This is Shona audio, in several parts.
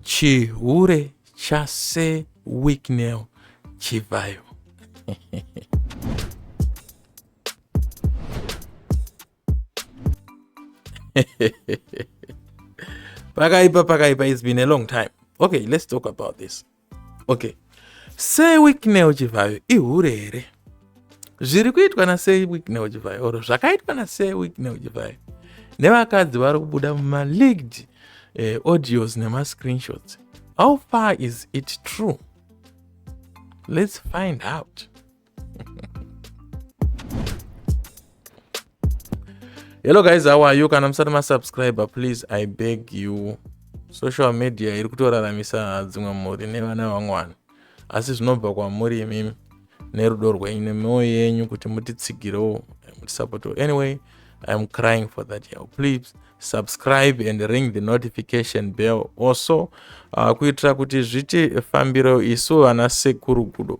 chihure chase wicknel chivhayo pakaipa pakaipa it's been a long time okay let's talk about this okay sei wicknel chivhayo ihure here zviri kuitwa nasei wicknel chivhayo or zvakaitwa nasei wicknel chivhayo nevakadzi vari kubuda mumaleaked eh, audios nemascreenshots how far is it true let's find out hello guys how are you kana musati masubscriber please i beg you social media iri kutoraramisa dzimwe mhuri nevana vamwana asi zvinobva kwamuri imimi nerudo rwenyu nemioyo yenyu kuti mutitsigirewo mutisapotewo anyway iam crying for that yao please subscribe and ring the notification bell also uh, kuitira kuti zviti fambiro isu vana sekuru gudo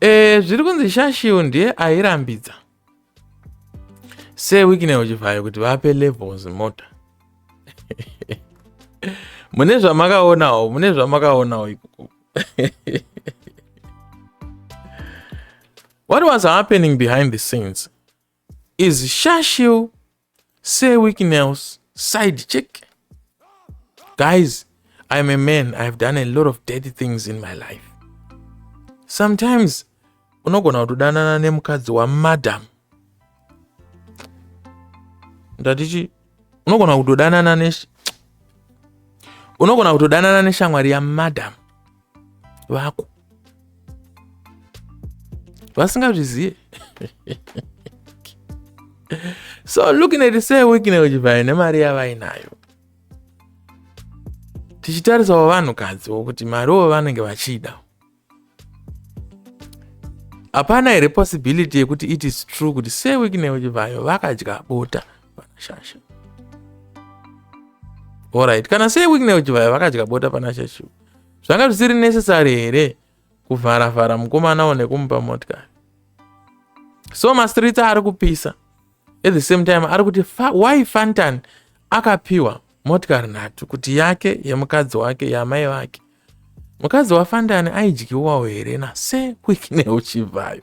e, zviri kunzi shashiu ndiye airambidza sewikine uchivhayo kuti vape levels mota mune zvamakaonawo mune zvamakaonawo ikoko what was happening behind the scenes is shashil sir wicknails side check guys i'm a man i've done a lot of dirty things in my life sometimes unogona kutodanana nemukadzi wamadam ndatichi unogona kutodanana ne unogona kutodanana neshamwari yamadam vako vasingazvizive so looking at say wikine uchivhayo nemari yavainayo tichitarisawo vanhukadzi wokuti mariwo vanenge vachida hapana here possibility yekuti it is true kuti se wikine uchivhayo vakadya bota vanashasha orit kana se wikine uchivhayo vakadya bota panashashu zvanga zvisiri necessary here kuvhara vhara mukomana one kumupa motikari so mastreets ari kupisa at the same time ari kuti fa, why fantan akapiwa motikari nhatu kuti yake yemukadzi wake yamai vake mukadzi wafandani aidyiwawo here nase kwikine uchibvayo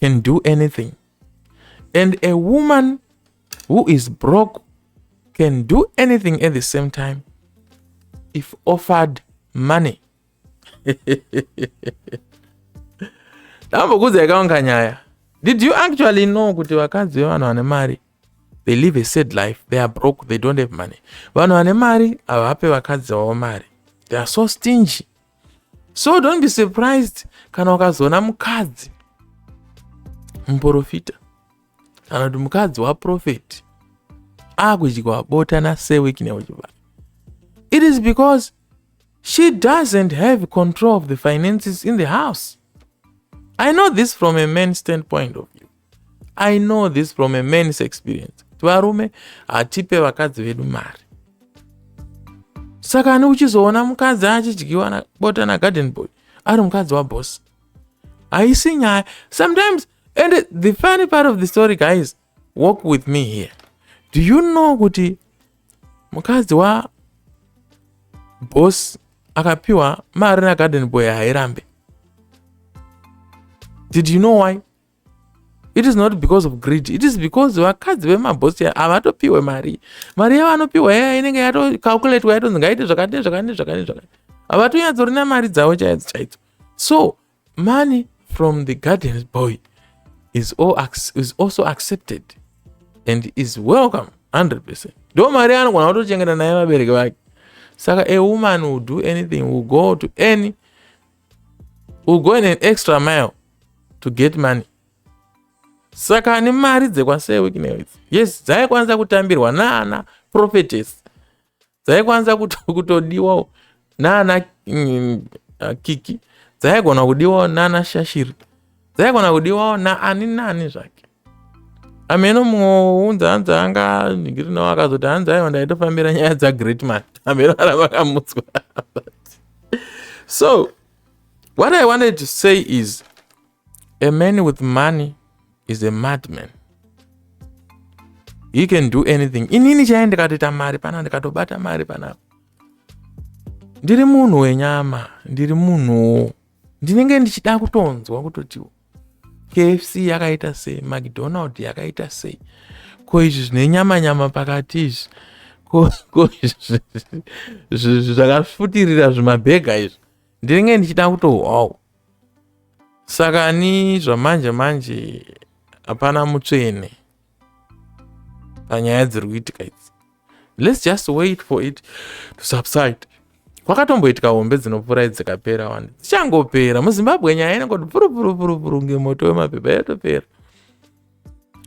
can do anything and a woman who is broke can do anything at the same time if offered money ndambokudza yakaunga nyaya did you actually know kuti vakadzi vevanhu vane mari they live a sad life they are broke they don't have money vanhu vane mari havape vakadzi vavo mari they are so stingy so don't be surprised kana ukazoona mukadzi muprofita kana kuti mukadzi waprofeti akudyiwa bota nasewik neuchibaa it is because she doesn't have control of the finances in the house i know this from a man standpoint of view i know this from a mans experience kuti varume hatipe vakadzi vedu mari saka ani uchizoona mukadzi achidyiwa nabota nagarden boy ari mukadzi waboss haisi nyaya sometimes and the funny part of the story guys walk with me here do you know kuti mukadzi wa boss akapiwa mari nagarden boy hairambe did you know why it is not because of greed it is because vakadzi vemabhosi havatopiwe mari mari yavo anopiwa yaya inenge yatocalculatwa yatonzi ngaite zvakati nezvakati nezvakati nezvakati havatonyatsouri namari dzavo chaidzo chaidzo so money from the guardians boy is, all, is also accepted and is welcome 100 percent ndo mari anogona kutochengeta naye vabereki vake saka a woman will do anything will go to any We're going an extra mile to get money. Saka ane mari dzekwaSir Wicknell idzi. Yes, dzaikwanisa kutambirwa naana prophetess. Dzaikwanisa kutodiwawo naana mm, uh, kiki. Dzaigona kudiwawo naana shashiri. Dzaigona kudiwawo naani naani zvake. ameno mumwe wounza hanzi anga nigiri nawo akazoti hanzi aiwa ndaitofambira nyaya dzagreat man ameno aravakamutswa so what i wanted to say is a man with money is a madman he can do anything inini chaiye ndikatoita mari pana ndikatobata mari panapa ndiri munhu wenyama ndiri munhuwo ndinenge ndichida kutonzwa kutoti kfc yakaita sei macdonald yakaita sei ko izvi zvine nyama nyama pakati izvi ko zvakafutirira zvimabhega izvi ndinenge ndichida kutohwawo saka ni zvamanje manje hapana mutsvene panyaya dziri kuitika idzi let's just wait for it to subside kwakatomboitika hombe dzinopfuura idzikapera wani dzichangopera muzimbabwe nyaya inongoti purupurupurupuru ngemoto wemapepa yatopera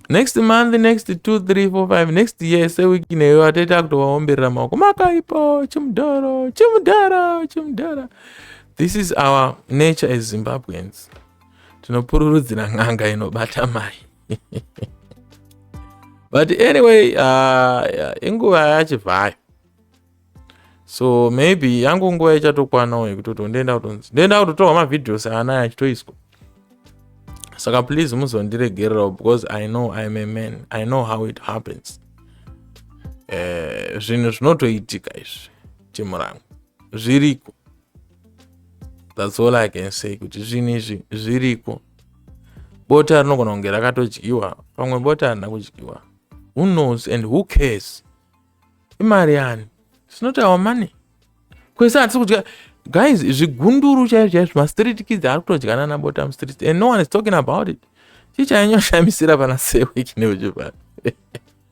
next month next 2 3 4 5 next year sewiki neyo atoita kutovaomberera maoko makaipo chimudhoro chimudhara chimudhara this is our nature as zimbabweans tinopururudzira n'anga inobata mai but anyway uh, inguva yachivhayo so maybe yangu nguva ichatokwanawo yekutoti ndoenda kutonzi ndoenda kutotorwa mavideos ana achitoiswa saka please muzondiregererawo because i know im a man i know how it happens eh, zvinhu zvinotoitika izvi timurangu zviriko thats all i can say kuti zvinhu izvi zviriko bota rinogona kunge rakatodyiwa pamwe bota harina kudyiwa who knows and who cares imari yani sinoti our money kwese hatisi kudya guys zvigunduru chaizvo chaizvo mastreet kids ari kutodyana nabota mustreet and no one is talking about it chii chainyoshamisira pana seweki neuchipano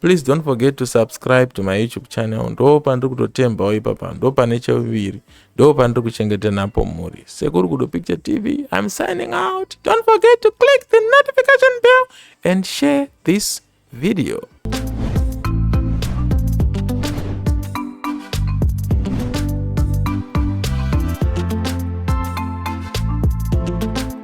please don't forget to subscribe to my youtube channel ndo pandiri kutotembawo ipapa ndo pane cheuviri ndo pandiri kuchengeta napo mhuri sekuru kudo picture tv im signing out don't forget to click the notification bell and share this video